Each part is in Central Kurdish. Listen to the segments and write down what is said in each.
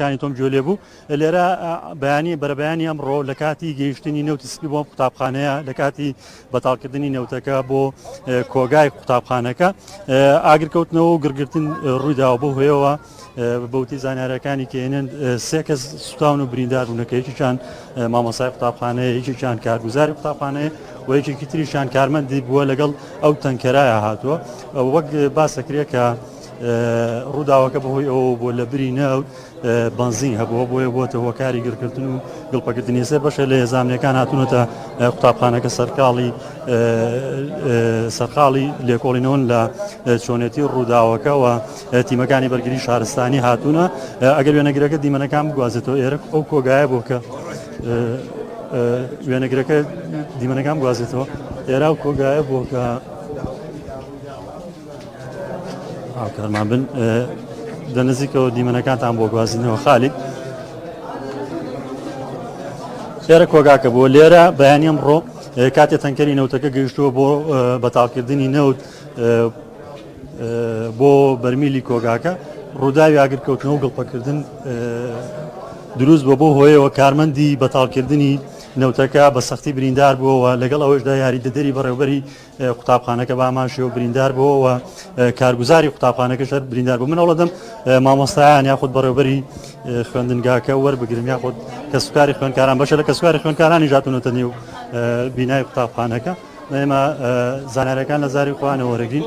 کانی تۆم گوێ لێ بوو لێرە بەیانی بەرەبەیانی ئەمڕۆ لە کاتی گەیشتنی نەوتی سپی بۆم قوتابخانەیە لە کاتی بەتاڵکردنی نەوتەکە بۆ کۆگای قوتابخانەکە ئاگرکەوتنەوە و گرگرتن ڕوویداوە بۆ هۆیەوە بەوتی زانارەکانی کێنن سێ کەس سوتاون و بریندار بوونەکە یەکیان مامۆسای قوتابخانەیە یەکێکیان کارگوزاری قوتابخانەیە و یەکێکی تریشان کارمەندی بووە لەگەڵ ئەو تەنکەرایە هاتووە وەک باسەکرێ کە ڕووداوەکە بەهۆی ئەوە بۆ لە بری نەوت بنزین هەبووە بۆیە بۆتە هۆکاری گرکردن و گڵپەکردنی سێ بەشە لە هێزانامەکان هاتوونەتە قوتابخانەکە سەرقاڵی سەرقاڵی لێکۆڵینەوەن لە چۆنێتی ڕووداوەکەەوە تیمەکانی بەرگری شارستانی هاتوونە ئەگەر وێنەگرەکە دیمەنەکان بگوازێتەوە ئێرە ئەو کۆگایە بۆ کە وێنەگرەکە دیمەنەکان گوازێتەوە ئێرا و کۆگایە بۆ کە هاوکارمان بن لە نزیکەوە دیمەنەکانتان بۆ گوازینەوە خالید خێرە کۆگاکە بۆ لێرە بەیانی ئەمڕۆ کاتێ تەنکەری نەوتەکە گەیشتووە بۆ بەتاڵکردنی نەوت بۆ بەرمیلی کۆگاکە ڕووداوی ئاگرکەوتنەوە گڵپەکردن دروست بۆ بۆ هۆیەوە کارمەندی بەتاڵکردنی نەوتەکە بە سەختی بریندار بووەوە لەگەڵ ئەوەشدا یاری دەدەری بەڕێوبەری قوتابخانەکە بە ئامانجی و بریندار بووە و کارگوزاری قوتابخانەکەش هەر بریندار بوو من هەوڵەدەم مامۆستایان یاخود بەڕێوبەری خوێندنگاکە وەربگرن یاخود کەسوکاری خوێندکاران بەشە لە کەسوکاری خوێندکارانی ژاتونەتە نێو بینای قوتابخانەکە ئێمە زانارەکان لە زاری خوانە وەرەگرین.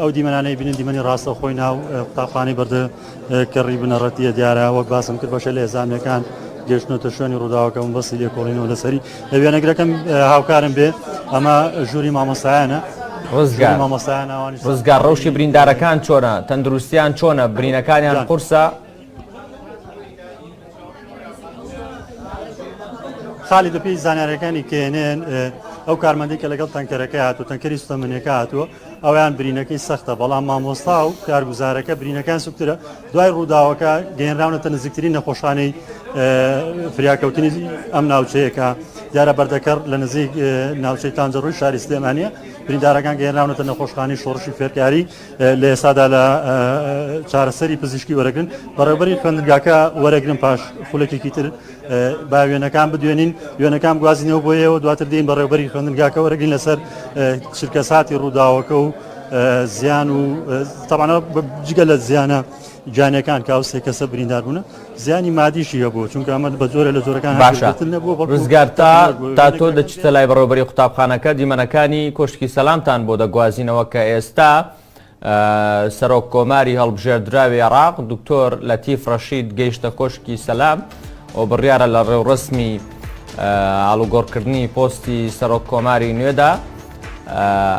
ئەو دیمەنانەی بینن دیمەنی ڕاستەوخۆی ناو قوتابخانەی بەردە کەڕی بنەڕەتیە دیارە وەک باسم کرد بەشە لە ئێزانەکان گەشتنەوە تە شوێنی ڕووداوەکەم بەسی لێکۆڵینەوە لەسەری لە وێنەگرەکەم هاوکارم بێ ئەمە ژووری مامۆستایانە ڕزگار مامۆستایانەوانی ڕزگار ڕەوشی بریندارەکان چۆنە تەندروستیان چۆنە برینەکانیان قورسە خالید بەپێی زانیاریەکانی کێنێن ئەو کارمەندی کە لەگەڵ تەنکەرەکە هاتو تەنکەری سوتەمەنیەکە هاتووە ئەویان برینەکەی سەختە بەڵام مامۆستا و کارگوزارەکە برینەکان سوکترە دوای ڕووداوەکە گەێنراونەتە نزیکترین نەخۆشخانەی فریاکەوتنی ئەم ناوچەیەەکە دیارە بەردەکەڕ لە نزیک ناوچەی تانجەڕووی شاری سلێمانە بریندارەکان گەێنراونەتە نەخۆشخانی شۆڕشی فێرکاری لە ئێسادا لە چارەسەری پزیشکی وەرەگرن بەڕێبەری خوێندگاکە وەرەگرن پاش خولەکێکی تر با وێنەکان بدوێنین وێنەکان گوازینەوە بۆیەوە دواتر دێن بەڕێبەری خوێندگاکە وەرەگرین لەسەر چرکە ساتی ڕووداوەکە و زیان و تەبانە جگە لە زیانە گیانیەکان کە ئەو سێ کەسە بریندار بوون زیانی مادیشی هەبوو چونکە ئەمە بە جۆرە لە جۆرەکان باشە ڕزگار تا تا تۆ دەچیتە لای بەڕێوبەری قوتابخانەکە دیمەنەکانی کۆشتکی سەلامتان بۆ دەگوازینەوە کە ئێستا سەرۆک کۆماری هەڵبژێردراوی عراق دکتۆر لە تیف ڕەشید گەیشتە کۆشکی سەلام و بڕیارە لە ڕێوڕسمی ئالوگۆڕکردنی پۆستی سەرۆک کۆماری نوێدا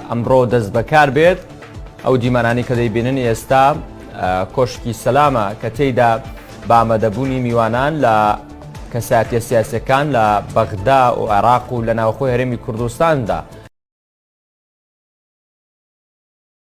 ئەمڕۆ دەست بەکار بێت ئەو دیمانانی کە دەیبینن ئێستا کۆشکی سەلامە کە تێیدا بە ئامادەبوونی میوانان لە کەساتیە سیاسەکان لە بەغدا و عێراق و لە ناوخۆی هەرێمی کوردستاندا.